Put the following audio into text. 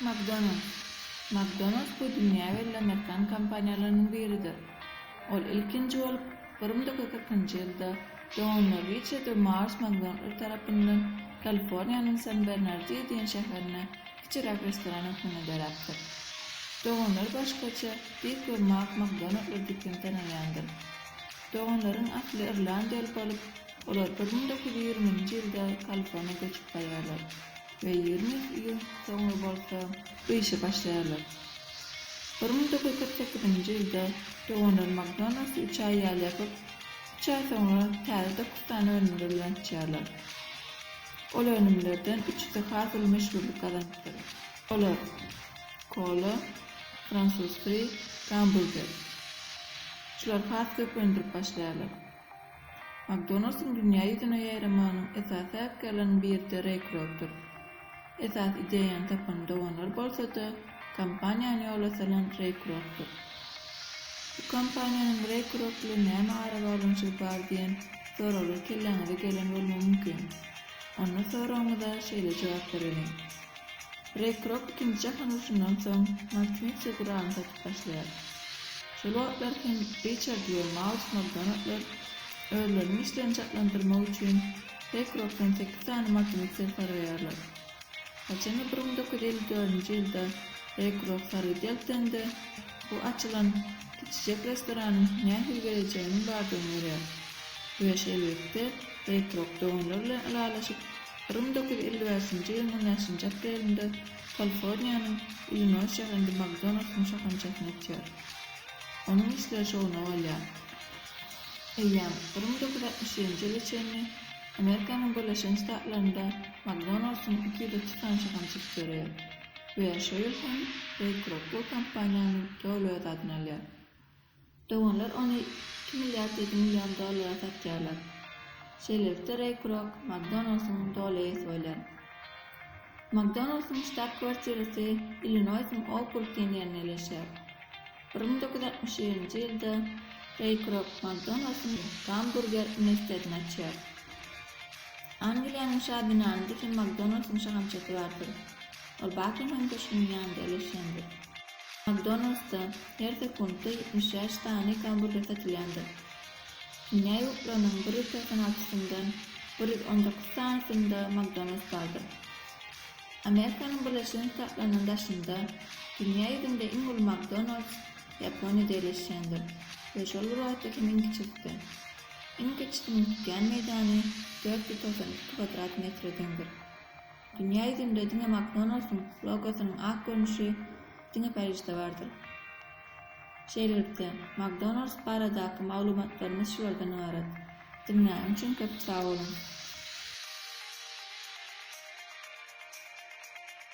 McDonald's. McDonald's bu dünýä belli amerikan kompaniýalarynyň biridir. Ol ilkinji bolup bir müň dokuz ýüz kyrkynjy ýylda Donald Riçard we Mars McDonaldlar tarapyndan Kaliforniýanyň San Bernardio diýen şäherinde kiçiräk restoran hökmünde döräpdir. Doganlary başgaça Dik we Mak McDonaldlar diýip hem tanalýandyr. Doganlaryň asly irlandiýaly bolup, olar bir müň dokuz ýüz ýigrimi nji ýylda Kaliforniýa göçüp barýarlar. we ýigrimi ýyl soňra bolsa gyşa başlaýarlar. Bir müň dokuz ýüz kyrk sekizinji ýylda doganlar McDonald's üç aý ýaly ýapyp, üç aý soňra täze dokuz sany önümler bilen açýarlar. Ol önümlerden üçüsi has uly meşhurlyk gazanypdyr. Olar, Kola, Fransuz Fri, Gambulder. Şular has köp öndürip başlaýarlar. McDonalds-yň dünýä ýüzüne ýaýramanyň esasy sebäpkärleriniň biri-de Reý Krokdur. Esasy ideýany tapan doganlar bolsa-da, kompaniýany ýola salan Reý Krokdur. Bu kompaniýanyň Reý Krok bilen näme arabaglanyşygy bar diýen soraglar kelläňize gelen bolmagy mümkin. Onda soragyňyza şeýle jogap bereliň. Rekrok ikinji jahan urşundan soň Maksimir Segurany satyp başlaýar. Şol wagtlar hem Riçard we Maus Makdonaldlar özleriniň işlerini çaklandyrmak üçin Rekrokdan sekiz sany Makimiksir sargaýarlar. Haçanda bir müň dokuz ýüz elli dördünji ýylda Rekrok sargy deltende bu açylan kiçijek restoranyň nähili geljeginiň bardygyny görýär we şeýlelikde Rekrok doganlar bilen ylalaşyp Rym dokuz ýüz elli bäşinji ýylyň on bäşinji aprelinde Kaliforniýanyň Illinoýs şäherinde Makdonaldyň şahamçasyny açýar. Onuň işleri şowuna galýar. Eýýäm Rym dokuz ýüz altmyş ýedinji ýyla çenli Amerikanyň Birleşen Ştatlarynda Makdonaldyň iki ýüz otuz sany şahamçasy döreýär we şo ýyl hem Reý Krokl kompaniýanyň doly öz adyna alýar. Doganlar ony iki milliard ýedi million dollara satýarlar. Şeýlelikde Reý Krok McDonald's-yň doly eýesi bolýar. McDonald's-yň ştab-kwartirasy Illinoýsyň Oukburg diýen ýerinde ýerleşýär. Bir müň doküz ýüz altmyş ýedinji ýylda Reý Krok McDonald's-yň Gamburger uniwersitetini açýar. Angliýanyň şa binanynda hem McDonald's-yň şahamçasy bardyr. Ol Bakingam köşgüniň ýanynda ýerleşýändir. Makdonaldsda her sekuntda ýetmiş bäş sany gamburger satylýandyr. Dünýä ýurtlarynyň bir ýüz segsen altysyndan bir ýüz on dokuz sanysynda Makdonalds bardyr. Amerikanyň Birleşen Ştatlarynyň daşynda dünýä ýüzünde iň uly Makdonalds Ýaponiýada ýerleşýändir we şol bir wagtda hem iň kiçisi-de. Iň kiçisiniň tutýan meýdany dört ýüz togsan iki kwadrat metre deňdir. Dünýä ýüzünde diňe McDonald's-yň logosynyň ak görnüşi diňe Parižde bardyr. Şeýlelikde, McDonald's baradaky maglumatlarymyz şulardan ybarat. Diňläniň üçin köp sag boluň!